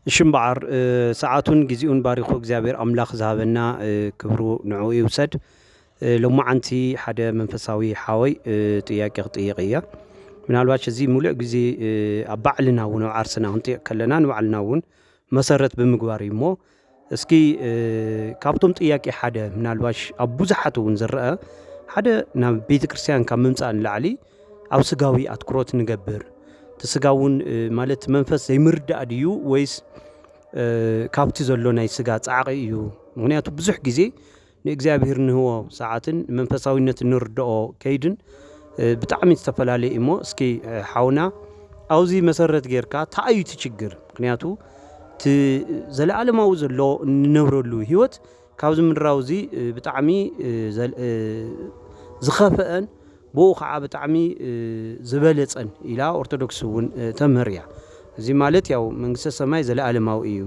እሺ እምበዓር ሰዓቱን ግዚኡን ባሪኹ እግዚኣብሔር ኣምላኽ ዝሃበና ክብሩ ንዕኡ ይውሰድ። ሎማዓንቲ ሓደ መንፈሳዊ ሓወይ ጥያቄ ክጥይቕ እያ። ምናልባሽ እዚ ሙሉእ ግዜ ኣብ ባዕልና እውን ኣብ ዓርስና ክንጥይቕ ከለና ንባዕልና እውን መሰረት ብምግባር እዩ እሞ እስኪ ካብቶም ጥያቄ ሓደ ምናልባሽ ኣብ ብዙሓት እውን ዝረአ ሓደ ናብ ቤተ ክርስቲያን ካብ ምምፃእ ንላዕሊ ኣብ ስጋዊ ኣትኩሮት ንገብር እቲ ስጋ እውን ማለት መንፈስ ዘይምርዳእ ድዩ ወይስ ካብቲ ዘሎ ናይ ስጋ ፃዕቂ እዩ ምክንያቱ ብዙሕ ግዜ ንእግዚኣብሔር እንህቦ ሰዓትን ንመንፈሳዊነት እንርደኦ ከይድን ብጣዕሚ ዝተፈላለየ እዩ እሞ እስኪ ሓውና ኣብዚ መሰረት ጌርካ ታይ እዩ እቲ ችግር ምክንያቱ እቲ ዘለኣለማዊ ዘሎ እንነብረሉ ህይወት ካብዚ ምድራዊ እዚ ብጣዕሚ ዝኸፈአን ብኡ ከዓ ብጣዕሚ ዝበለጸን ኢላ ኦርቶዶክስ እውን ተምህር እያ እዚ ማለት ያው መንግስተ ሰማይ ዘለኣለማዊ እዩ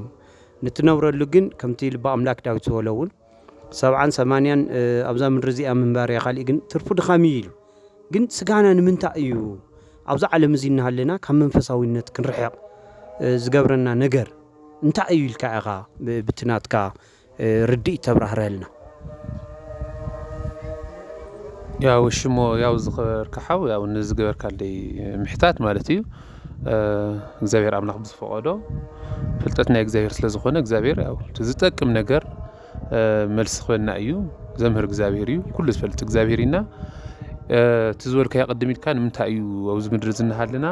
ንትነብረሉ ግን ከምቲ ልበ ኣምላክ ዳዊት ዝበሎ እውን ሰብዓን ሰማንያን ኣብዛ ምድሪ እዚኣ ምንባር እያ ካልእ ግን ትርፉ ድኻም እዩ ኢሉ ግን ስጋና ንምንታይ እዩ ኣብዚ ዓለም እዚ እናሃለና ካብ መንፈሳዊነት ክንርሕቕ ዝገብረና ነገር እንታይ እዩ ኢልካ ኢኻ ብትናትካ ርድኢት ተብራህረልና ያው ሽሞ ያው ዝኸበርካ ሓው ያው ንዝገበርካለይ ምሕታት ማለት እዩ እግዚኣብሔር ኣምላኽ ብዝፈቐዶ ፍልጠት ናይ እግዚኣብሔር ስለ ዝኾነ እግዚኣብሔር ያው ዝጠቅም ነገር መልሲ ክበና እዩ ዘምህር እግዚኣብሔር እዩ ኩሉ ዝፈልጥ እግዚኣብሔር ኢና እቲ ዝበልካዮ ቅድም ኢልካ ንምንታይ እዩ ኣብዚ ምድሪ ዝናሃለና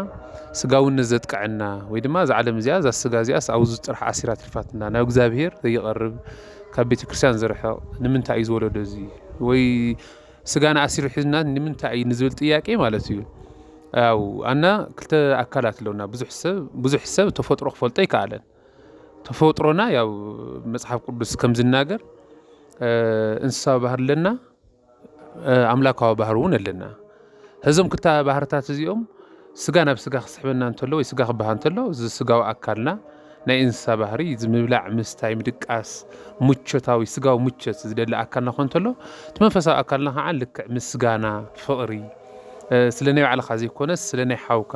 ስጋውነት ዘጥቀዐና ወይ ድማ እዛ ዓለም እዚኣ እዛ ስጋ እዚኣስ ኣብዚ ጥራሕ ኣሲራ ትልፋትና ናብ እግዚኣብሔር ዘይቐርብ ካብ ቤተ ክርስቲያን ዝርሕቕ ንምንታይ እዩ ዝወለዶ እዚ ወይ ስጋና ኣሲሩ ሒዝና ንምንታይ እዩ ንዝብል ጥያቄ ማለት እዩ ኣው ኣና ክልተ ኣካላት ኣለውና ብዙሕ ሰብ ብዙሕ ሰብ ተፈጥሮ ክፈልጦ ኣይከኣለን ተፈጥሮና ያው መጽሓፍ ቅዱስ ከም ዝናገር እንስሳዊ ባህር ኣለና ኣምላካዊ ባህር እውን ኣለና እዞም ክልተ ባህርታት እዚኦም ስጋ ናብ ስጋ ክስሕበና እንተሎ ወይ ስጋ ክበሃ እንተሎ እዚ ስጋዊ ኣካልና ናይ እንስሳ ባህሪ እዩ። እዚ ምብላዕ፣ ምስታይ፣ ምድቃስ፣ ምቾታዊ ስጋዊ ምቾት ዝደሊ ኣካልና ክኾን እንተሎ፣ እቲ መንፈሳዊ ኣካልና ከዓ ልክዕ ምስጋና፣ ፍቕሪ፣ ስለ ናይ ባዕልኻ ዘይኮነስ ስለ ናይ ሓውካ፣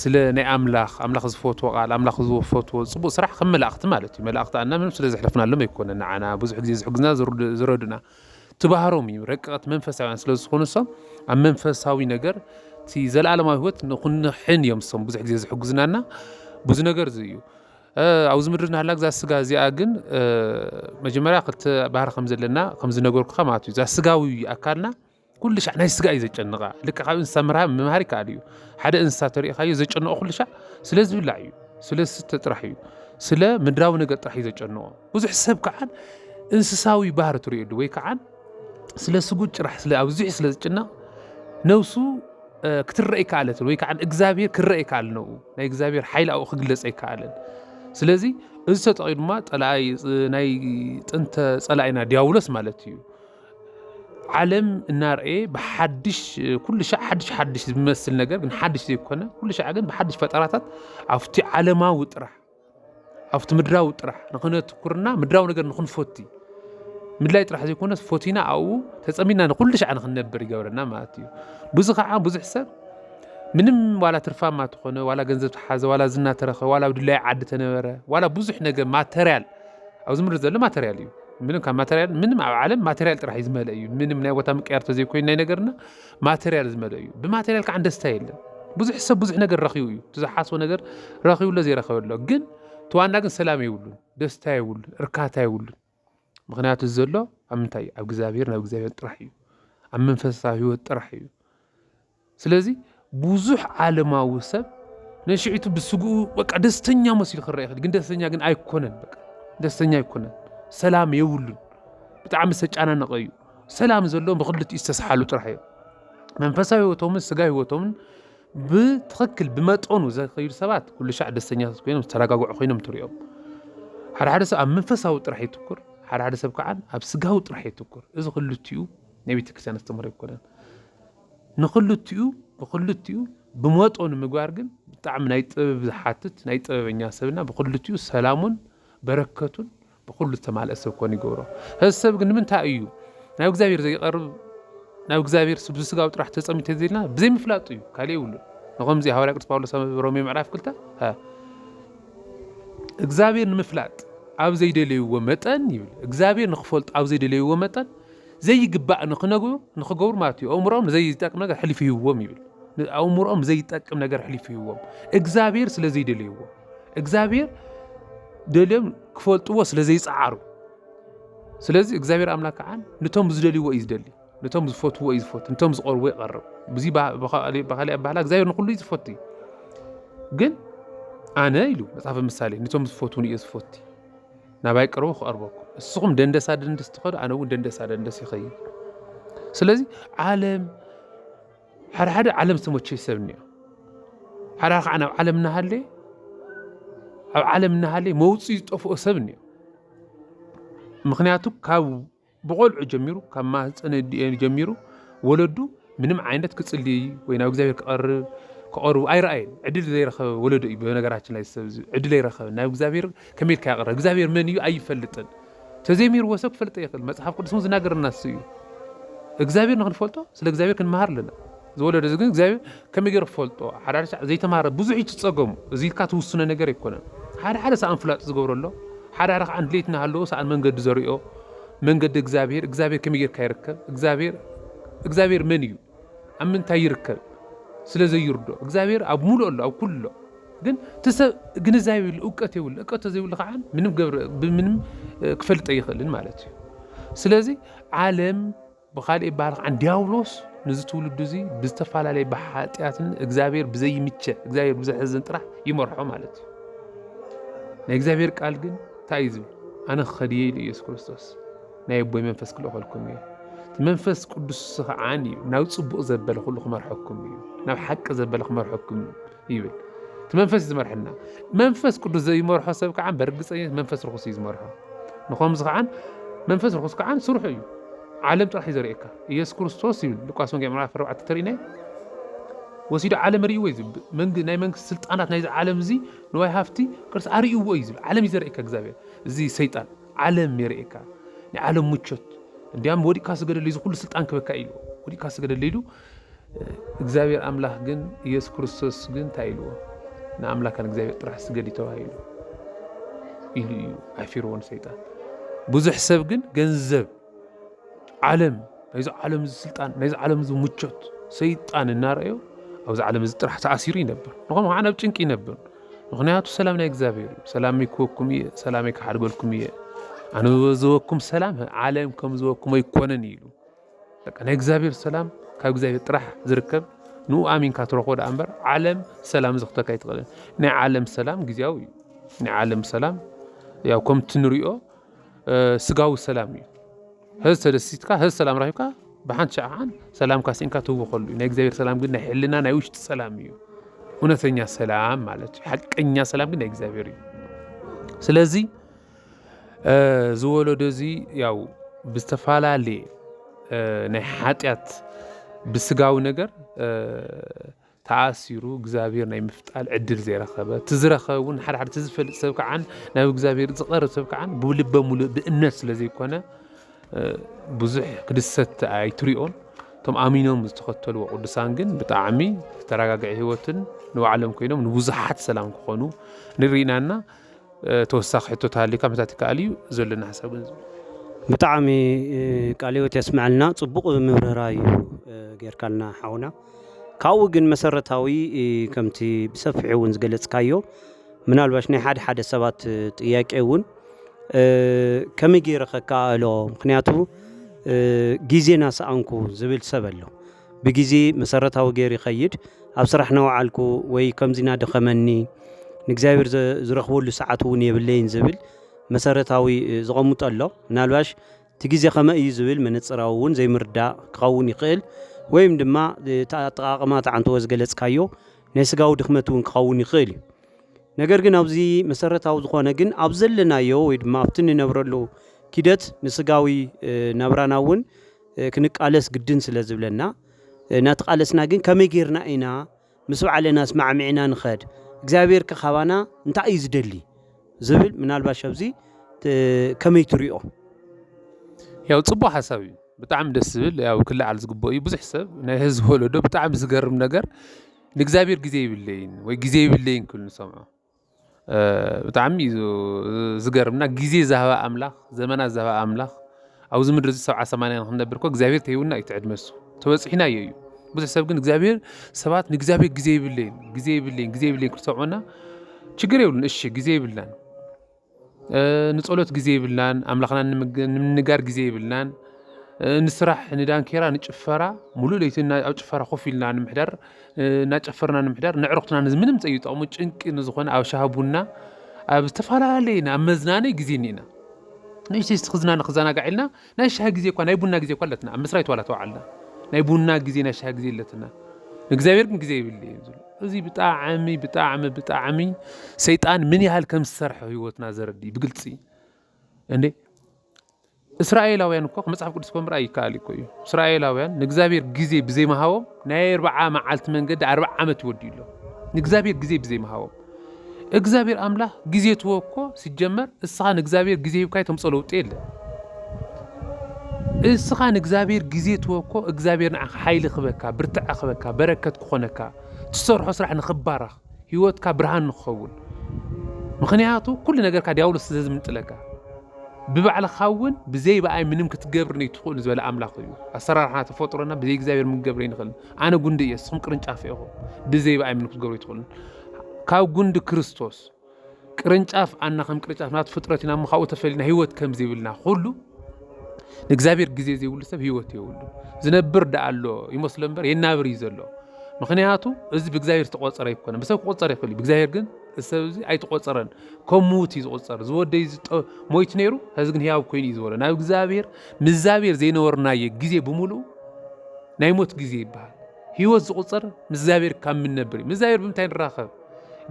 ስለ ናይ ኣምላኽ፣ ኣምላኽ ዝፈትዎ ቃል፣ ኣምላኽ ዝፈትዎ ፅቡቕ ስራሕ ከም መላእኽቲ ማለት እዩ። መላእኽቲ ኣና ምንም ስለ ዘሕለፍናሎም ኣይኮነን ንዓና ብዙሕ ግዜ ዝሕግዙና ዝረዱእና። ትባህሮም እዩ ረቀቅት መንፈሳውያን ስለ ዝኾኑ እሶም ኣብ መንፈሳዊ ነገር እቲ ዘለኣለማዊ ህይወት ንክንሕን እዮም እሶም ብዙሕ ግዜ ዝሕግዙናና ብዙ ነገር እዚ እዩ ኣብዚ ምድሪ ናህላ ግዛ ስጋ እዚኣ ግን መጀመርያ ክልተ ባህሪ ከም ዘለና ከም ዝነገርኩካ ማለት እዩ እዛ ስጋዊ ኣካልና ኩሉ ሻዕ ናይ ስጋ እዩ ዘጨንቃ ልክዕ ካብ እንስሳ ምርሃብ ምምሃር ይከኣል እዩ ሓደ እንስሳ ተሪእኻዮ ዘጨንቆ ኩሉ ሻዕ ስለ ዝብላዕ እዩ ስለ ዝስተ ጥራሕ እዩ ስለ ምድራዊ ነገር ጥራሕ እዩ ዘጨንቆ ብዙሕ ሰብ ከዓን እንስሳዊ ባህሪ ትሪእሉ ወይ ከዓን ስለ ስጉድ ጭራሕ ስለ ኣብዙሕ ስለ ዝጭነቕ ነብሱ ክትረአ ኣይከኣለትን ወይ ከዓ እግዚኣብሄር ክረአ ኣይከኣልን ነብኡ ናይ እግዚኣብሄር ሓይሊ ኣብኡ ክግለፅ ኣይከኣልን ስለዚ እዚ ተጠቒሙ ድማ ጠላኣይ ናይ ጥንተ ፀላኢና ዲያብሎስ ማለት እዩ ዓለም እናርኣየ ብሓድሽ ኩሉ ሻዕ ሓድሽ ሓድሽ ዝመስል ነገር ግን ሓድሽ ዘይኮነ ኩሉ ሻዕ ግን ብሓድሽ ፈጠራታት ኣብቲ ዓለማዊ ጥራሕ ኣብቲ ምድራዊ ጥራሕ ንክነትኩርና ምድራዊ ነገር ንክንፈቲ ምድላይ ጥራሕ ዘይኮነስ ፎቲና ኣብኡ ተፀሚና ንኩሉ ሻዕ ንክንነብር ይገብረና ማለት እዩ ብዙ ከዓ ብዙሕ ሰብ ምንም ዋላ ትርፋማ ተኾነ ዋላ ገንዘብ ተሓዘ ዋላ ዝና ተረኸ ዋላ ኣብ ድላይ ዓዲ ተነበረ ዋላ ብዙሕ ነገር ማተርያል ኣብዚ ምድሪ ዘሎ ማተርያል እዩ ምንም ካብ ማተርያል ምንም ኣብ ዓለም ማተርያል ጥራሕ እዩ ዝመልአ እዩ ምንም ናይ ቦታ ምቅያር ተዘይኮይኑ ናይ ነገርና ማተርያል ዝመልአ እዩ ብማተርያል ከዓ ደስታ የለን ብዙሕ ሰብ ብዙሕ ነገር ረኪቡ እዩ እቲ ዝሓስቦ ነገር ረኪቡ ኣሎ ዘይረከበ ኣሎ ግን ተዋና ግን ሰላም የብሉን ደስታ የብሉን እርካታ የብሉን ምክንያቱ ዘሎ ኣብ ምንታይ ኣብ እግዚኣብሔር ናብ እግዚኣብሔር ጥራሕ እዩ ኣብ መንፈሳዊ ህይወት ጥራሕ እዩ ስለዚ ብዙሕ ዓለማዊ ሰብ ነሽዒቱ ብስግኡ በቃ ደስተኛ መሲሉ ክረአ ይኽእል ግን ደስተኛ ግን ኣይኮነን በቃ ደስተኛ ኣይኮነን ሰላም የብሉን ብጣዕሚ ዝተጨናነቐ እዩ ሰላም ዘለዎም ብክልቲኡ ዝተሰሓሉ ጥራሕ እዮም መንፈሳዊ ህይወቶምን ስጋ ህይወቶምን ብትኽክል ብመጠኑ ዘኸይዱ ሰባት ኩሉ ሻዕ ደስተኛታት ኮይኖም ዝተረጋግዑ ኮይኖም ትሪኦም ሓደ ሓደ ሰብ ኣብ መንፈሳዊ ጥራሕ የትኩር ሓደ ሓደ ሰብ ከዓ ኣብ ስጋዊ ጥራሕ የትኩር እዚ ክልቲኡ ናይ ቤተክርስትያን ኣስተምህሮ ኣይኮነን ንክልቲኡ ንክልቲኡ ብመጦኑ ምግባር ግን ብጣዕሚ ናይ ጥበብ ዝሓትት ናይ ጥበበኛ ሰብና ብክልቲኡ ሰላሙን በረከቱን ብኩሉ ዝተማልአ ሰብ ኮን ይገብሮ እዚ ሰብ ግን ንምንታይ እዩ ናብ እግዚኣብሔር ዘይቀርብ ናብ እግዚኣብሔር ስብ ስጋዊ ጥራሕ ተጸሚት ተዘይልና ብዘይምፍላጡ እዩ ካልእ ይብሉ ንከምዚ ሃዋርያ ቅዱስ ጳውሎስ ኣብ ሮሜ ምዕራፍ ክልተ እግዚኣብሔር ንምፍላጥ ኣብ ዘይደለይዎ መጠን ይብል እግዚኣብሔር ንክፈልጡ ኣብ ዘይደለይዎ መጠን ዘይግባእ ንክነግሩ ንክገብሩ ማለት እዩ ኣእምሮኦም ንዘይጠቅም ነገር ሕሊፉ ሂብዎም ይብል ኣእምሮኦም ዘይጠቅም ነገር ሕሊፉ ሂብዎም እግዚኣብሔር ስለ ዘይደለይዎ እግዚኣብሔር ደልዮም ክፈልጥዎ ስለ ዘይፀዓሩ ስለዚ እግዚኣብሔር ኣምላክ ከዓ ንቶም ዝደልይዎ እዩ ዝደሊ ነቶም ዝፈትዎ እዩ ዝፈቱ ነቶም ዝቐርቦ ይቐርብ ብዙ ብካሊእ ኣባህላ እግዚኣብሔር ንኩሉ እዩ ዝፈቱ እዩ ግን ኣነ ኢሉ መፅሓፈ ምሳሌ ነቶም ዝፈትውን እዩ ዝፈቱ ናባይ ቅርቡ ክቐርበኩም እስኹም ደንደሳ ደንደስ ትኸዱ ኣነ እውን ደንደሳ ደንደስ ይኸይድ ስለዚ ዓለም ሓደ ሓደ ዓለም ዝተመቸይ ሰብ እኒኦ ሓደ ከዓ ናብ ዓለም እናሃለየ ኣብ ዓለም እናሃለየ መውፅኢ ዝጠፍኦ ሰብ እኒኦ ምክንያቱ ካብ ብቆልዑ ጀሚሩ ካብ ማህፀን ኣዲኡ ጀሚሩ ወለዱ ምንም ዓይነት ክፅሊ ወይ ናብ እግዚኣብሔር ክቐርብ ክቐርቡ ኣይረኣየን። ዕድል ዘይረኸበ ወለዶ እዩ። በነገራችን ላይ ሰብ ዕድል ኣይረኸበን። ናብ እግዚኣብሔር ከመይ ኢልካ ይቐርብ? እግዚኣብሔር መን እዩ ኣይፈልጥን። ተዘይሚርዎ ሰብ ክፈልጠ ይኽእል። መፅሓፍ ቅዱስ እውን ዝናገረና እሱ እዩ። እግዚኣብሔር ንክንፈልጦ ስለ እግዚኣብሔር ክንመሃር ኣለና። ዝወለዶ እዚ ግን እግዚኣብሔር ከመይ ገይሩ ክፈልጦ ሓደ ሓደ ዘይተማረ ብዙሕ እዩ ትጸገሙ እዚ ኢልካ ትውስኖ ነገር ኣይኮነን ሓደ ሓደ ሰኣን ፍላጥ ዝገብሮ ኣሎ ሓደ ሓደ ከዓ ድሌት እናሃለዎ ሰኣን መንገዲ ዘሪኦ መንገዲ እግዚኣብሔር እግዚኣብሔር ከመይ ገይርካ ይርከብ እግዚኣብሔር እግዚኣብሔር መን እዩ ኣብ ምንታይ ይርከብ ስለ ዘይርዶ እግዚኣብሔር ኣብ ሙሉእ ኣሎ ኣብ ኩሉ ኣሎ ግን ትሰብ ግንዛቤ የብሉ እውቀት የብሉ እውቀት ተዘይብሉ ከዓ ምንም ገብረ ብምንም ክፈልጠ ይኽእልን ማለት እዩ ስለዚህ ዓለም ብኻልእ ይበሃል ከኣ ድያብሎስ ነዚ ትውልዱ እዚ ብዝተፈላለየ ብሓጢኣትን እግዚኣብሔር ብዘይምቸ እግዚኣብሔር ብዘሕዝን ጥራሕ ይመርሖ ማለት እዩ። ናይ እግዚኣብሔር ቃል ግን እንታይ እዩ ዝብል? ኣነ ክኸድየ ኢሉ ኢየሱስ ክርስቶስ ናይ ኣቦይ መንፈስ ክልእኸልኩም እዩ መንፈስ ቅዱስ ስኽዓን እዩ ናብ ፅቡቕ ዘበለ ኩሉ ክመርሐኩም እዩ ናብ ሓቂ ዘበለ ክመርሐኩም እዩ ይብል እቲ መንፈስ እዩ ዝመርሐና መንፈስ ቅዱስ ዘይመርሖ ሰብ ከዓ በርግፀኝነት መንፈስ ርኩስ እዩ ዝመርሖ ንከምዚ ከዓ መንፈስ ርኩስ ከዓ ስርሑ እዩ ዓለም ጥራሕ እዩ ዘርእየካ ኢየሱስ ክርስቶስ ይብል ሉቃስ ወንጌል ምዕራፍ 4 ተርእናይ ወሲዱ ዓለም ርእይዎ እዩ ዝብል ናይ መንግስቲ ስልጣናት ናይዚ ዓለም እዚ ንዋይ ሃፍቲ ቅርሲ ኣርእይዎ እዩ ዝብል ዓለም እዩ ዘርእየካ እግዚኣብሔር እዚ ሰይጣን ዓለም የርእየካ ናይ ዓለም ምቾት እንዲያም ወዲቅካ ስገደለይ እዚ ኩሉ ስልጣን ክበካ ኢሉ ወዲቅካ ስገደለይ ኢሉ እግዚኣብሔር ኣምላክ ግን ኢየሱስ ክርስቶስ ግን እንታይ ኢልዎ ንኣምላካ ንእግዚኣብሔር ጥራሕ ስገዲ ተባሂሉ ኢሉ እዩ ኣፊርዎ ንሰይጣን ብዙሕ ሰብ ግን ገንዘብ ዓለም ናይዚ ዓለም እዚ ስልጣን ናይዚ ዓለም እዚ ምቾት ሰይጣን እናረኣዮ ኣብዚ ዓለም እዚ ጥራሕ ተኣሲሩ ይነብር ንኸምኡ ከዓ ናብ ጭንቂ ይነብር ምክንያቱ ሰላም ናይ እግዚኣብሔር እዩ ሰላም ይክወኩም እየ ሰላም ይከሓድገልኩም እየ ኣነ ዝበዝበኩም ሰላም ዓለም ከም ዝበኩም ኣይኮነን ኢሉ በቃ ናይ እግዚኣብሔር ሰላም ካብ እግዚኣብሔር ጥራሕ ዝርከብ ንኡ ኣሚንካ ትረኽቦ ደኣ እምበር ዓለም ሰላም ዝኽተካ ኣይትኽእልን ናይ ዓለም ሰላም ግዜያዊ እዩ ናይ ዓለም ሰላም ያው ከምቲ ንሪኦ ስጋዊ ሰላም እዩ ህዝ ተደሲትካ ህዝ ሰላም ረኪብካ ብሓንቲ ሸዓ ከዓን ሰላምካ ሲንካ ትህወኸሉ እዩ ናይ እግዚኣብሔር ሰላም ግን ናይ ሕልና ናይ ውሽጢ ሰላም እዩ እውነተኛ ሰላም ማለት እዩ ሓቀኛ ሰላም ግን ናይ እግዚኣብሔር እዩ ስለዚ እዚ ወለዶ እዚ ያው ብዝተፈላለየ ናይ ሓጢኣት ብስጋዊ ነገር ተኣሲሩ እግዚኣብሔር ናይ ምፍጣል ዕድል ዘይረኸበ እቲ ዝረኸበ እውን ሓደ ሓደ እቲ ዝፈልጥ ሰብ ከዓን ናብ እግዚኣብሔር ዝቐርብ ሰብ ከዓን ብልበ ሙሉእ ብእምነት ስለ ዘይኮነ ብዙሕ ክድሰት ኣይትሪኦን እቶም ኣሚኖም ዝተኸተልዎ ቅዱሳን ግን ብጣዕሚ ዝተረጋግዐ ህይወትን ንባዕሎም ኮይኖም ንብዙሓት ሰላም ክኾኑ ንሪኢና እና ተወሳኺ ሕቶ ተሃልዩካ ምሕታት ይከኣል እዩ ዘሎኒ ሓሳብ ግን እዚ እዩ። ብጣዕሚ ቃለ ህይወት የስመዐልና ፅቡቅ ምብርህራህ እዩ ጌርካልና ሓውና ካብኡ ግን መሰረታዊ ከምቲ ብሰፊሑ እውን ዝገለፅካዮ ምናልባሽ ናይ ሓደ ሓደ ሰባት ጥያቄ እውን ከመይ ገይረ ከከኣእሎ ምክንያቱ ጊዜ ናሰኣንኩ ዝብል ሰብ ኣሎ ብግዜ መሰረታዊ ገይሩ ይኸይድ ኣብ ስራሕ ናወዓልኩ ወይ ከምዚ ናደኸመኒ ንእግዚኣብሔር ዝረኽበሉ ሰዓት እውን የብለይን ዝብል መሰረታዊ ዝቐምጦ ኣሎ ምናልባሽ እቲ ግዜ ከመይ እዩ ዝብል መነፅራዊ እውን ዘይምርዳእ ክኸውን ይኽእል ወይም ድማ ኣጠቃቅማ ተዓንተወ ዝገለፅካዮ ናይ ስጋዊ ድኽመት እውን ክኸውን ይኽእል እዩ ነገር ግን ኣብዚ መሰረታዊ ዝኾነ ግን ኣብ ዘለናዮ ወይ ድማ ኣብቲ ንነብረሉ ኪደት ንስጋዊ ናብራና እውን ክንቃለስ ግድን ስለ ዝብለና እናተቃለስና ግን ከመይ ጌርና ኢና ምስ ባዕልና ኣስማዕሚዕና ንኸድ እግዚኣብሔር ከ ካባና እንታይ እዩ ዝደሊ ዝብል ምናልባሽ ኣብዚ ከመይ ትሪኦ? ያው ፅቡቅ ሓሳብ እዩ ብጣዕሚ ደስ ዝብል ያው ክለዓል ዝግብኦ እዩ ብዙሕ ሰብ ናይ ህዝቢ ወለዶ ብጣዕሚ ዝገርም ነገር ንእግዚኣብሔር ግዜ የብለይን ወይ ግዜ የብለይን ክብል ንሰምዖ። ብጣዕሚ እዩ ዝገርም እና ጊዜ ዛህባ ኣምላኽ ዘመና ዛህባ ኣምላኽ ኣብዚ ምድሪ እዚ ሰብዓ ሰማንያ ንክንነብር እኮ እግዚኣብሔር ተሂቡና እዩ ትዕድመ እሱ ተበፂሕና እዩ እዩ ብዙሕ ሰብ ግን እግዚኣብሔር ሰባት ንእግዚኣብሔር ጊዜ ይብለይን ጊዜ ይብለይን ጊዜ ይብለይን ክሰምዑና ችግር የብሉን እሺ ጊዜ ይብልናን ንጸሎት ግዜ የብልናን ኣምላኽና ንምንጋር ግዜ የብልናን ንስራሕ ንዳንኬራ ንጭፈራ ሙሉእ ለይቲ ኣብ ጭፈራ ኮፍ ኢልና ንምሕዳር እናጨፈርና ንምሕዳር ነዕሩኽትና ምንም ዘይጠቕሙ ጭንቂ ንዝኾነ ኣብ ሻሂ ቡና ኣብ ዝተፈላለየ ናብ መዝናነዪ ግዜ እኒኤና ንእሽተይ ክዝናነ ክዘናጋዕ ኢልና ናይ ሻሂ ግዜ እኳ ናይ ቡና ግዜ እኳ ኣለትና ኣብ ምስራይ ተዋላ ተዋዓልና ናይ ቡና ግዜ ናይ ሻሂ ግዜ ኣለትና ንእግዚኣብሔር ግን ግዜ ይብል እዩ ዝብሎ እዚ ብጣዕሚ ብጣዕሚ ብጣዕሚ ሰይጣን ምን ያህል ከም ዝሰርሐ ህይወትና ዘረድእ ብግልፂ እንዴ እስራኤላውያን እኮ መጽሓፍ ቅዱስ እኮ ምርኣይ ይከኣል እኮ እዩ እስራኤላውያን ንእግዚኣብሔር ግዜ ብዘይምሃቦም ናይ ኣርብዓ መዓልቲ መንገዲ ኣርብዓ ዓመት ይወድዩ ኣሎ ንእግዚኣብሔር ግዜ ብዘይምሃቦም እግዛብሔር ኣምላክ ግዜ ትህቦ እኮ ሲጀመር እስኻ ንእግዛብሔር ግዜ ሂብካዮ ተምጾ ለውጢ የለን እስኻ ንእግዛብሔር ግዜ ትህቦ እኮ እግዛብሔር ንዓኻ ሓይሊ ክህበካ ብርትዐ ክህበካ በረከት ክኾነካ ትሰርሖ ስራሕ ንኽባረኽ ህይወትካ ብርሃን ንክኸውን ምኽንያቱ ኩሉ ነገርካ ዲያብሎስ ስለ ዝምንጥለካ ብባዕልኻ እውን ብዘይ በኣይ ምንም ክትገብር ነይትኽእሉ ዝበለ ኣምላኽ እዩ ኣሰራርሓና ተፈጥሮና ብዘይ እግዚኣብሔር ምገብረ ይንኽእል ኣነ ጉንዲ እየ እስኹም ቅርንጫፍ ኢኹም ብዘይ ብኣይ ምንም ክትገብሩ ኣይትኽእሉን ካብ ጉንዲ ክርስቶስ ቅርንጫፍ ኣና ከም ቅርንጫፍ ናቱ ፍጥረት ኢና እሞ ካብኡ ተፈሊና ህይወት ከም ዘይብልና ኩሉ ንእግዚኣብሔር ግዜ ዘይብሉ ሰብ ህይወት የብሉ ዝነብር ደኣ ኣሎ ይመስሎ እምበር የናብር እዩ ዘሎ ምክንያቱ እዚ ብእግዚኣብሔር ዝተቆፀረ ይኮነ ብሰብ ክቆፀር ይኽእል እዩ ብእግዚኣብሔር ግን ሰብ እዚ ኣይተቆፀረን ከም ምውት እዩ ዝቁፀር ዝወደይ ሞይት ነይሩ ሕዚ ግን ህያው ኮይኑ እዩ ዝበሎ ናብ እግዚኣብሔር ምዛብሔር ዘይነበርናየ ግዜ ብምሉእ ናይ ሞት ግዜ ይበሃል ህይወት ዝቁፀር ምስ እግዚኣብሔር ካብ ምነብር ምስ እግዚኣብሔር ብምንታይ ንራኸብ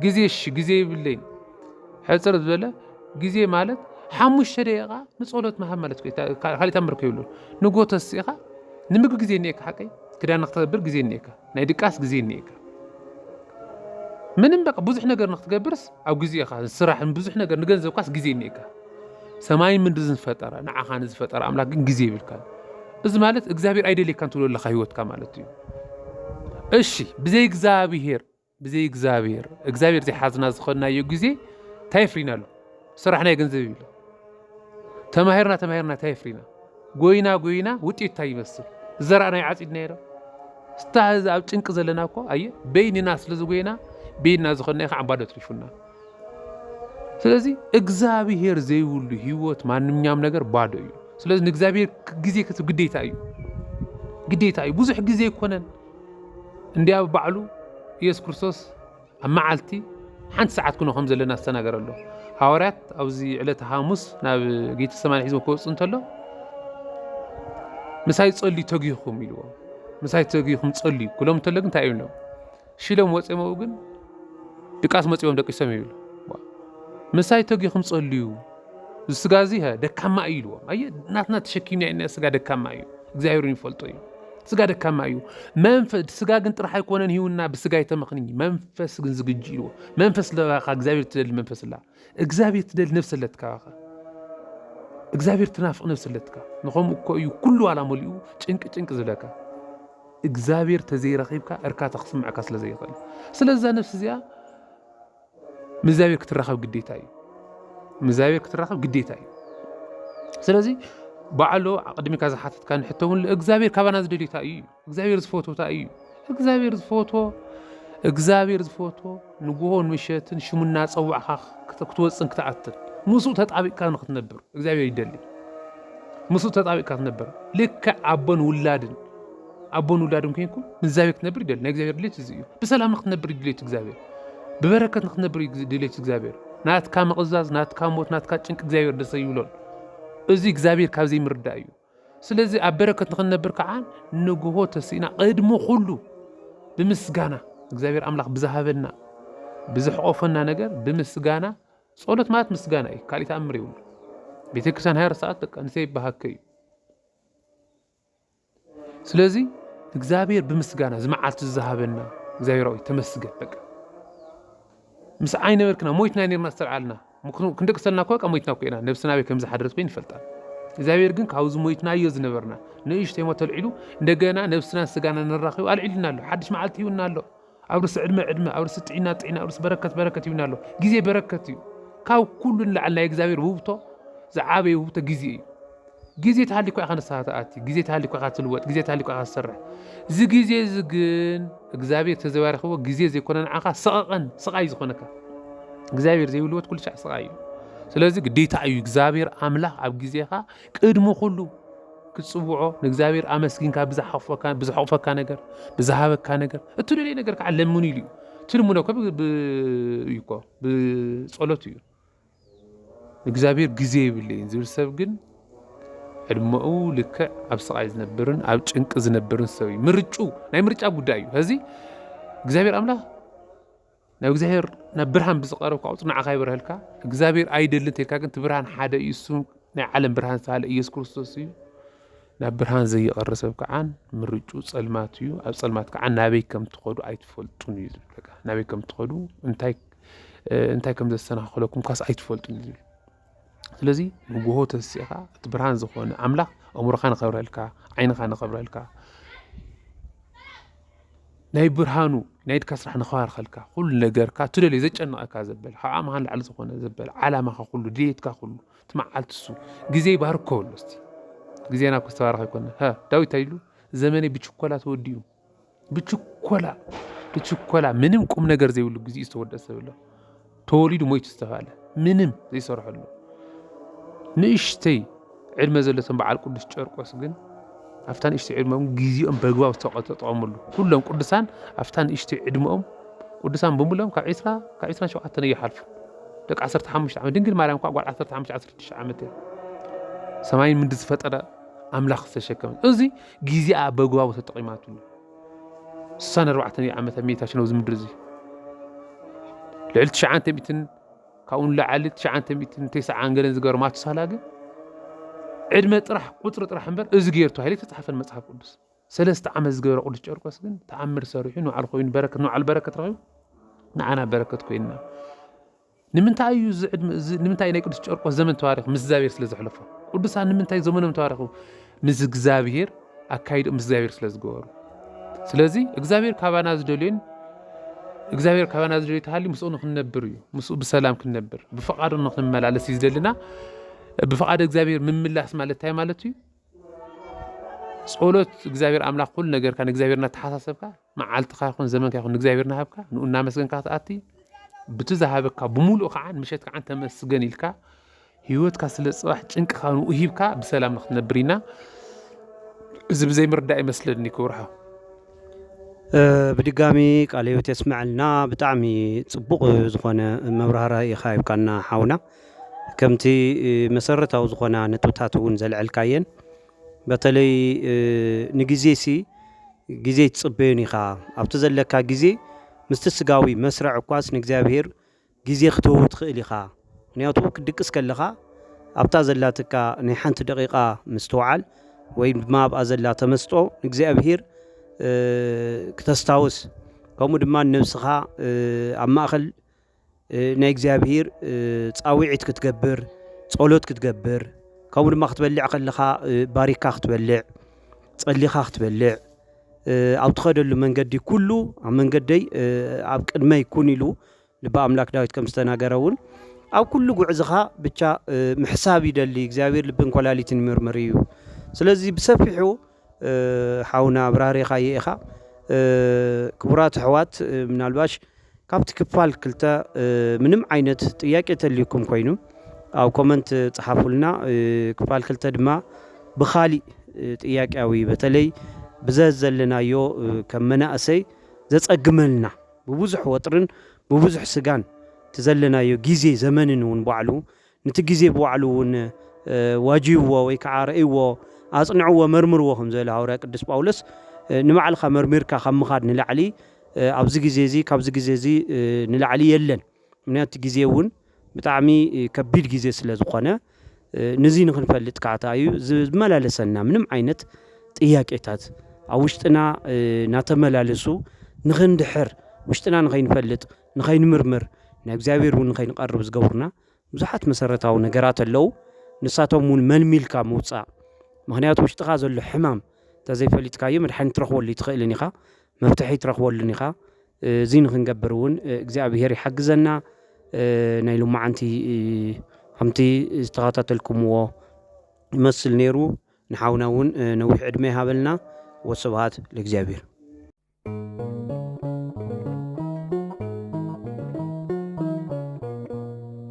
ግዜ እሺ ግዜ ይብለይን ሕፅር ዝበለ ግዜ ማለት ሓሙሽተ ደቂቃ ንፀሎት ምሃብ ማለት ካልእ ታምር ከይብሉ ንጎ ተስኢኻ ንምግቢ ግዜ እኒኤካ ሓቀይ ክዳን ንክተገብር ግዜ እኒኤካ ናይ ድቃስ ግዜ እኒኤካ ምንም በቃ ብዙሕ ነገር ንክትገብርስ ኣብ ግዜ ኢኻ ስራሕ ብዙሕ ነገር ንገንዘብካስ ግዜ እኒኤካ ሰማይን ምድርን ዝፈጠረ ንዓኻ ንዝፈጠረ ኣምላክ ግን ግዜ ይብልካ እዚ ማለት እግዚኣብሔር ኣይደልየካን ትብሎ ኣለካ ህይወትካ ማለት እዩ እሺ ብዘይ እግዚኣብሔር ብዘይ እግዚኣብሔር እግዚኣብሔር ዘይሓዝና ዝኸድናዮ ግዜ እንታይ የፍሪና ኣሎ ስራሕ ናይ ገንዘብ ይብለ ተማሂርና ተማሂርና እንታይ የፍሪና ጎይና ጎይና ውጤቱ ታይ ይመስል ዝዘራእናዮ ዓፂድናዮ ዶ እስታ ህዚ ኣብ ጭንቂ ዘለና እኮ ኣየ በይንና ስለ ዝጎይና በይንና ዝኾንናዮ ከዓ ባዶ ትሪፉና ስለዚ እግዚኣብሄር ዘይብሉ ህይወት ማንኛውም ነገር ባዶ እዩ። ስለዚ ንእግዚኣብሄር ግዜ ክትብ ግዴታ እዩ ግዴታ እዩ። ብዙሕ ግዜ ኣይኮነን እንዲ ኣብ ባዕሉ ኢየሱስ ክርስቶስ ኣብ መዓልቲ ሓንቲ ሰዓት ኩኖ ከም ዘለና ዝተናገረ ኣሎ። ሃዋርያት ኣብዚ ዕለተ ሓሙስ ናብ ጌተሰማኒ ሒዝዎ ክወጽእ እንተሎ ምሳይ ጸልዩ ተጊኹም ኢልዎ ምሳይ ተጊኹም ጸልዩ ክሎም እንተሎ ግን እንታይ ይብሎም ሽሎም ወጽሞኡ ግን ድቃስ መጽዎም ደቂሶም ይብል ምሳይ ተጊኹም ጸልዩ ስጋ እዚ ደካማ እዩ ኢልዎም። ኣየ ናትና ተሸኪምና ኢና ስጋ ደካማ እዩ፣ እግዚኣብሔር ይፈልጦ እዩ። ስጋ ደካማ እዩ። መንፈስ ስጋ ግን ጥራሕ ኣይኮነን ሂውና ብስጋ የተመኽንኝ መንፈስ ግን ዝግጅ ኢልዎ መንፈስ ለባኻ እግዚኣብሔር ትደሊ መንፈስ ላ እግዚኣብሔር ትደሊ ነብሰ ኣለትካ ባኻ እግዚኣብሔር ትናፍቕ ነብሰ ኣለትካ ንኸምኡ እኮ እዩ ኩሉ ዋላ መሊኡ ጭንቂ ጭንቂ ዝለካ እግዚኣብሔር ተዘይረኺብካ እርካታ ክስምዐካ ስለ ዘይኽእል ስለዛ ነብሲ እዚኣ ምስ እግዚኣብሔር ክትራኸብ ግዴታ እዩ። ምስ እግዚኣብሔር ክትራኸብ ግዴታ እዩ። ስለዚ ባዕሎ ቅድሚካ ዝሓተትካ ንሕቶ እውን እግዚኣብሔር ካባና ዝደልዩታ እዩ እግዚኣብሔር ዝፈትወታ እዩ እግዚኣብሔር ዝፈትዎ እግዚኣብሔር ዝፈትዎ ንግሆን ምሸትን ሽሙ እናፀዋዕካ ክትወፅን ክትኣትን ምስኡ ተጣቢቅካ ንክትነብር እግዚኣብሔር ይደሊ ምስኡ ተጣቢቅካ ትነብር ልክዕ ኣቦን ውላድን ኣቦን ውላድን ኮይንኩም ንእግዚኣብሔር ክትነብር ይደሊ ናይ እግዚኣብሔር ድሌት እዚ እዩ ብሰላም ንክትነብር ድሌት እግዚኣብሔር ብበረከት ንክትነብር ድሌት እግዚኣብሔር ናትካ ምቕዛዝ ናትካ ሞት ናትካ ጭንቂ እግዚኣብሔር ደሰ ይብሎን እዚ እግዚኣብሔር ካብ ዘይምርዳእ እዩ ስለዚ ኣብ በረከት ንክንነብር ከዓ ንግሆ ተስኢና ቅድሚ ኩሉ ብምስጋና እግዚኣብሔር ኣምላኽ ብዝሃበና ብዝሕቆፈና ነገር ብምስጋና ጸሎት ማለት ምስጋና እዩ ካልእ ተኣምር ይብሉ ቤተክርስቲያን ሃያ ሰዓት በቃ ንሰይ ይበሃከ እዩ ስለዚ እግዚኣብሔር ብምስጋና እዚ መዓልቲ ዝሃበና እግዚኣብሔር ሆይ ተመስገን በቃ ምስ ኣይነበርክና ሞይትና ነርና ዝተልዓልና ክንደቅሰልና እኳ ሞይትና እኮ ኢና ነብስና በይ ከምዝሓደረት ኮይን ይፈልጣል እግዚኣብሔር ግን ካብዚ ሞይትናዮ ዝነበርና ንእሽተይ ሞት ተልዒሉ እንደገና ነብስናን ስጋና ንራኸቡ ኣልዒሉና ኣሎ ሓድሽ መዓልቲ ይውና ኣሎ ኣውርስ ዕድመ ዕድመ ኣውርስ ጥዒና ጥዒና ኣውርስ በረከት በረከት ይብና ኣሎ ግዜ በረከት እዩ ካብ ኩሉ ንላዕሊ ናይ እግዚኣብሔር ውህብቶ ዝዓበየ ውህብቶ ግዜ እዩ ግዜ ተሃሊኳ ኢኻ ንስኻ ትኣቲ ግዜ ተሃሊኳ ኢኻ ትልወጥ ግዜ ተሃሊኳ ኢኻ ትሰርሕ እዚ ግዜ እዚ ግን እግዚኣብሔር ተዘባሪኽዎ ግዜ ዘይኮነ ንዓኻ ሰቐቐን ስቓይ ዝኾነካ እግዚኣብሔር ዘይብልወት ኩሉ ሻዕ ስቓይ እዩ ስለዚ ግዴታ እዩ እግዚኣብሔር ኣምላኽ ኣብ ግዜኻ ቅድሚ ኩሉ ክትጽውዖ ንእግዚኣብሔር ኣመስጊንካ ብዝሓቕፈካ ነገር ብዝሃበካ ነገር እትደልየ ነገር ከዓ ለምኑ ኢሉ እዩ ትልምኖ እኮ እዩ እኮ ብጸሎት እዩ እግዚኣብሔር ግዜ ይብለይን ዝብል ሰብ ግን ዕድመኡ ልክዕ ኣብ ስቓይ ዝነብርን ኣብ ጭንቂ ዝነብርን ሰብ እዩ ምርጩ ናይ ምርጫ ጉዳይ እዩ ከዚ እግዚኣብሔር ኣምላኽ ናብ እግዚኣብሔር ናብ ብርሃን ብዝቀረብካ ቁፅሪ ንዓኻ ይበርሀልካ እግዚኣብሔር ኣይደልን ተልካ ግን እቲ ብርሃን ሓደ እዩ እሱ ናይ ዓለም ብርሃን ዝተባሃለ ኢየሱስ ክርስቶስ እዩ ናብ ብርሃን ዘይቐሪ ሰብ ከዓ ምርጩ ፀልማት እዩ ኣብ ፀልማት ከዓ ናበይ ከም ትኸዱ ኣይትፈልጡን እዩ ዝብል በቃ ናበይ ከም ትኸዱ እንታይ እንታይ ከም ዘሰናኽለኩም ካስ ኣይትፈልጡን እዩ ዝብል ስለዚ ንግሆ ተሲእኻ እቲ ብርሃን ዝኾነ ኣምላኽ ኣእምሮኻ ንኸብረሀልካ ዓይንኻ ንኸብረሀልካ ናይ ብርሃኑ ናይ ኢድካ ስራሕ ንኽባርኸልካ ኩሉ ነገርካ እትደልዮ ዘጨንቐካ ዘበለ ካብ ዓቕምኻ ንላዕሊ ዝኾነ ዘበለ ዓላማኻ ኩሉ ድሌትካ ኩሉ እቲ መዓልቲ እሱ ግዜ ይባርኮ በሎ እስቲ ግዜና እኮ ዝተባረኸ ኣይኮነን ዳዊት እንታይ ኢሉ ዘመነይ ብችኮላ ተወዲኡ ብችኮላ ብችኮላ ምንም ቁም ነገር ዘይብሉ ግዚኡ ዝተወደእ ሰብ ኣሎ ተወሊዱ ሞይቱ ዝተባህለ ምንም ዘይሰርሐሉ ንእሽተይ ዕድመ ዘለቶም በዓል ቅዱስ ጨርቆስ ግን ኣብታ ንእሽተይ ዕድመኦም ግዚኦም በግባብ ዝተጠቐምሉ ኩሎም ቅዱሳን ኣብታ ንእሽተይ ዕድመኦም ቅዱሳን ብምሎም ካብ ዕስራ ካብ ዕስራን ሸውዓተን ይሓልፉ ደቂ ዓሰርተ ሓሙሽተ ዓመት ድንግል ማርያም እኳ ጓል ዓሰርተ ሓሙሽተ ዓሰርተ ሽዱሽተ ዓመት እያ ሰማይን ምድሪ ዝፈጠረ ኣምላኽ ዝተሸከመ እዚ ጊዜኣ በግባቡ ተጠቒማትሉ። ስሳን ኣርባዕተን እዩ ዓመተ ምይታችን ኣብዚ ምድሪ እዚ ልዕሊ ትሽዓንተ ሚእትን ካብኡ ንላዕሊ ትሽዓንተ ሚእትን ቴስዓን ገለን ዝገበረ ማቱሳላ ግን ዕድመ ጥራሕ ቁፅሪ ጥራሕ እምበር እዚ ገይሩ ተባሂሉ ተፃሓፈን መፅሓፍ ቅዱስ ሰለስተ ዓመት ዝገበረ ቅዱስ ጨርቆስ ግን ተኣምር ሰሪሑ ንባዕሉ ኮይኑ በረከት ንባዕሉ በረከት ረኺቡ ንዓና በረከት ኮይንና ንምንታይ እዩ እዚ ዕድመ እዚ ንምንታይ ናይ ቅዱስ ጨርቆስ ዘመን ተባሪኹ ምስ እግዚኣብሔር ስለ ዘሕለፎ ቅዱሳን ንምንታይ ዘመኖም ተባሪኹ ምስ እግዚኣብሔር ኣካይዶም ምስ እግዚኣብሔር ስለ ዝገበሩ ስለዚ እግዚኣብሔር ካባና ዝደልዮን እግዚኣብሔር ካባና ዝደልዮ ተሃልዩ ምስኡ ንክንነብር እዩ ምስኡ ብሰላም ክንነብር ብፈቃዱ ንክንመላለስ እዩ ዝደልና ብፈቃድ እግዚኣብሔር ምምላስ ማለት እንታይ ማለት እዩ ጸሎት እግዚኣብሔር ኣምላኽ ኩሉ ነገርካ ንእግዚኣብሔር እናተሓሳሰብካ መዓልትኻ ይኹን ዘመንካ ይኹን ንእግዚኣብሔር ናሃብካ ንኡ እናመስገንካ ክትኣቲ ብቲ ዝሃበካ ብምሉእ ከዓ ምሸት ከዓ ተመስገን ኢልካ ህይወትካ ስለ ፅባሕ ጭንቅኻ ንኡ ሂብካ ብሰላም ንክትነብር ኢና እዚ ብዘይ ምርዳእ ይመስለኒ ክብርሃ ብድጋሚ ቃል ህይወት የስምዐልና ብጣዕሚ ፅቡቕ ዝኾነ መብራህራ ኢኻ ይብካና ሓውና ከምቲ መሰረታዊ ዝኾና ነጥብታት እውን ዘልዐልካየን በተለይ ንግዜሲ ግዜ ኣይትጽበዮን ኢኻ፣ ኣብቲ ዘለካ ግዜ ምስቲ ስጋዊ መስርዕ እኳስ ንእግዚኣብሄር ግዜ ክትህቦ ትኽእል ኢኻ፣ ምኽንያቱ ክትድቅስ ከለኻ ኣብታ ዘላትካ ናይ ሓንቲ ደቒቓ ምስትውዓል ወይ ድማ ኣብኣ ዘላ ተመስጦ ንእግዚኣብሄር ክተስታውስ ከምኡ ድማ ንነብስኻ ኣብ ማእከል ናይ እግዚኣብሔር ጻውዒት ክትገብር ጸሎት ክትገብር ከምኡ ድማ ክትበልዕ ከለኻ ባሪካ ክትበልዕ ጸሊኻ ክትበልዕ ኣብ ትኸደሉ መንገዲ ኩሉ ኣብ መንገደይ ኣብ ቅድመይ ኩን ኢሉ ልቢ ኣምላክ ዳዊት ከም ዝተናገረ እውን ኣብ ኩሉ ጉዕዝኻ ብቻ ምሕሳብ ይደሊ እግዚኣብሔር ልብን ኮላሊትን ይምርምር እዩ ስለዚ ብሰፊሑ ሓውና ኣብራሪኻዮ ኢኻ ክቡራት ኣሕዋት ምናልባሽ ካብቲ ክፋል ክልተ ምንም ዓይነት ጥያቄ ተልዩኩም ኮይኑ ኣብ ኮመንት ጽሓፉልና ክፋል ክልተ ድማ ብኻሊእ ጥያቄያዊ በተለይ ብዘ ዘለናዮ ከም መናእሰይ ዘጸግመልና ብብዙሕ ወጥርን ብብዙሕ ስጋን እቲ ዘለናዮ ግዜ ዘመንን እውን ባዕሉ ንቲ ግዜ ብባዕሉ እውን ዋጅይዎ ወይ ከዓ ረእይዎ፣ ኣጽንዕዎ፣ መርምርዎ ከም ዝበለ ሃዋርያ ቅዱስ ጳውሎስ ንባዕልኻ መርሚርካ ካብ ምኻድ ንላዕሊ ኣብዚ ግዜ እዚ ካብዚ ግዜ እዚ ንላዕሊ የለን። ምክንያቱ እቲ ግዜ እውን ብጣዕሚ ከቢድ ግዜ ስለ ዝኾነ ንዚ ንክንፈልጥ ከዓ ታይ እዩ ዝመላለሰና ምንም ዓይነት ጥያቄታት ኣብ ውሽጥና ናተመላለሱ ንክንድሕር ውሽጥና ንከይንፈልጥ ንከይንምርምር ናብ እግዚኣብሔር እውን ንከይንቀርብ ዝገብሩና ብዙሓት መሰረታዊ ነገራት ኣለው ንሳቶም እውን መልሚልካ ምውፃእ ምክንያቱ ውሽጥኻ ዘሎ ሕማም ተዘይፈሊጥካዮ መድሓኒት ትረኽበሉ ኣይትኽእልን ኢኻ መፍትሒ ትረኽበሉን ኢኻ እዚ ንክንገብር እውን እግዚኣብሄር ይሓግዘና ናይ ሎማዓንቲ ከምቲ ዝተኸታተልኩምዎ ይመስል ነይሩ ንሓውና እውን ነዊሕ ዕድመ ይሃበልና ወስብሃት ለእግዚኣብሄር